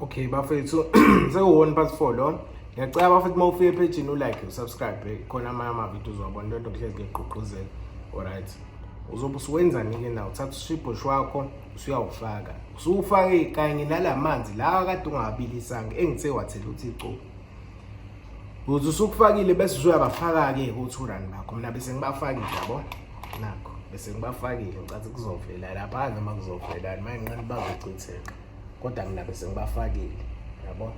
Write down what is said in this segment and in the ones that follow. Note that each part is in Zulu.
okay bafethu sekuwona part 4 lo ngiyacela bafethu uma ufika ephejini ulike usubscribe khona amanye amavidiyo uzowabona into nto kuhlezi ngigqugquzela alright uzobe usuwenzani-ke na uthatha ushibhoshi wakho usuyawufaka usuwufake kanye nala manzi lawa kade ungawabilisanga engithe wathela uthi icuku Kuze usukufakile bese uzoyabafaka-ke ku-two rand bakho mina bese ngibafakile yabo nakho bese ngibafakile ngicathi kuzovela lapha noma kuzovelani manje nqani bazochitheka kodwa mina bese ngibafakile yabo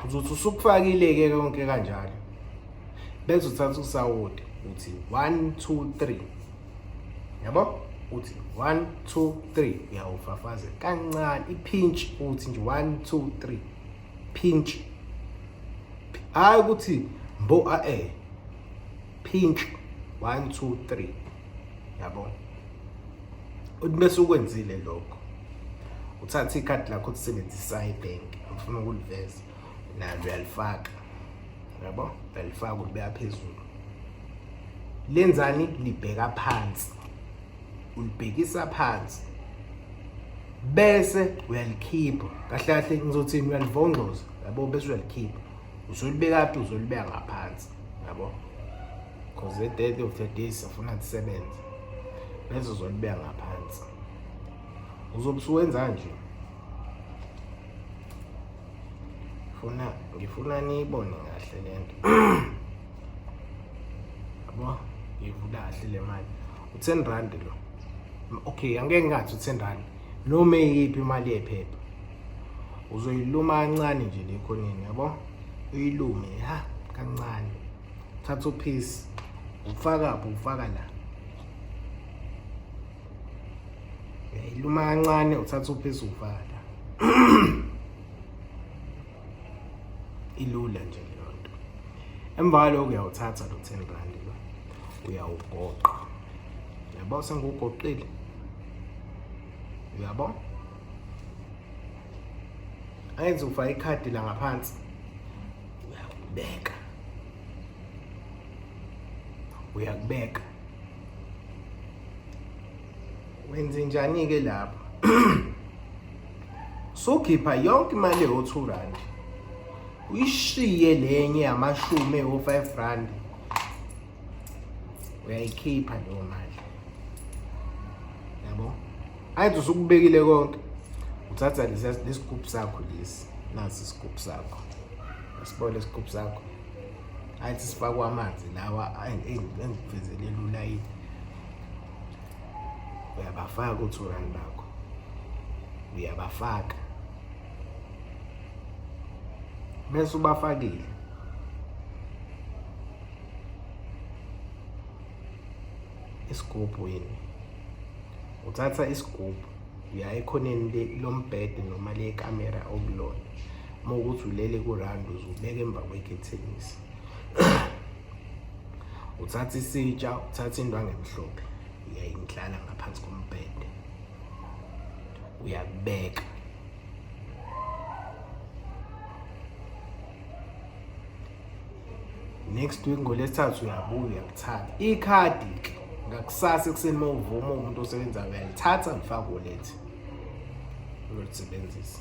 uzothi usukufakile-ke konke kanjalo bese uthatha usawoti uthi one two three yabo uthi one two three uyawufafaze kancane iphinshi uthi nje one two three Pinch. Hayi ukuthi mbo a e. Pinch. 1 2 3. Yabona? Uthi bese ukwenzile lokho. Uthatha ikhadi lakho ulisebenzisa ibank. Ngifuna ukuliveza. Nalo uyalifaka. Yabo? Uyalifaka ulibeka phezulu. Lenzani libheka phansi. ulibhekisa phansi bese uyalikhipha kahle kahle ngizothini uyalivongcoza yabo bese uyalikhipha uzolibeka phi uzolibeka ngaphansi yabo because the dead of the day sifuna kusebenza bese uzolibeka ngaphansi uzobe usuwenza nje ngifuna ngifuna niyibone kahle lento yabo ngivula kahle le mali u-10 rand lo okay angeke ngathi u-10 rand noma eyiphi imali yephepha uzoyiluma kancane nje le khoneni yabo uyilume ha kancane thatha uphisi ufaka pho ufaka la uyayiluma kancane uthatha uphisi ufaka la ilula nje leyo nto emva kwaloko uyawuthatha lo 10 rand uyawugoqa yabo sengiwugoqile uyabo ayenze ufaka ikhadi la ngaphansi uyakubeka uyakubeka Wenzenjani-ke lapho? Sukhipha yonke imali ewu-two rand uyishiye lenye yamashumi ewu-five rand uyayikhipha leyo mali yabo ayithi usukubekile konke uthatha lesigubhu sakho lesi nasi isigubhu sakho asibone isigubhu sakho ayithi sifakwa amanzi lawa engikuvezelelula yini uyabafaka u-two rand bakho uyabafaka bese ubafakile isigubhu yini uthatha isigubhu uya ekhoneni lombhede noma lekamera okulona uma ukuthi ulele kurandi uzubeka emva kwekhethenisi uthatha isitsha uthatha indwangu emhlophe uyayindlala ngaphansi kombhede uyakubeka next week ngolesithathu uyabuya uyakuthatha ikhadi ke ngakusasa ekuseni uma uvuma umuntu osebenzayo uyalithatha ngifake wallet uyolisebenzisa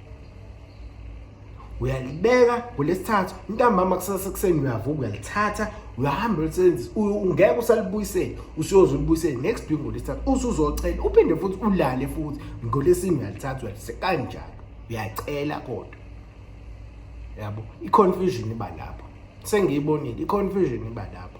uyalibeka ngolesithathu intambama kusasa sekuseni uyavuka uyalithatha uyahamba ulisebenzisa ungeke usalibuyisele usuyoze ulibuyisele next week ngolesithathu usuzocela uphinde futhi ulale futhi ngolesini uyalithatha uyalise kanjalo uyacela kodwa yabo i-confusion iba lapho sengiyibonile i-confusion iba lapho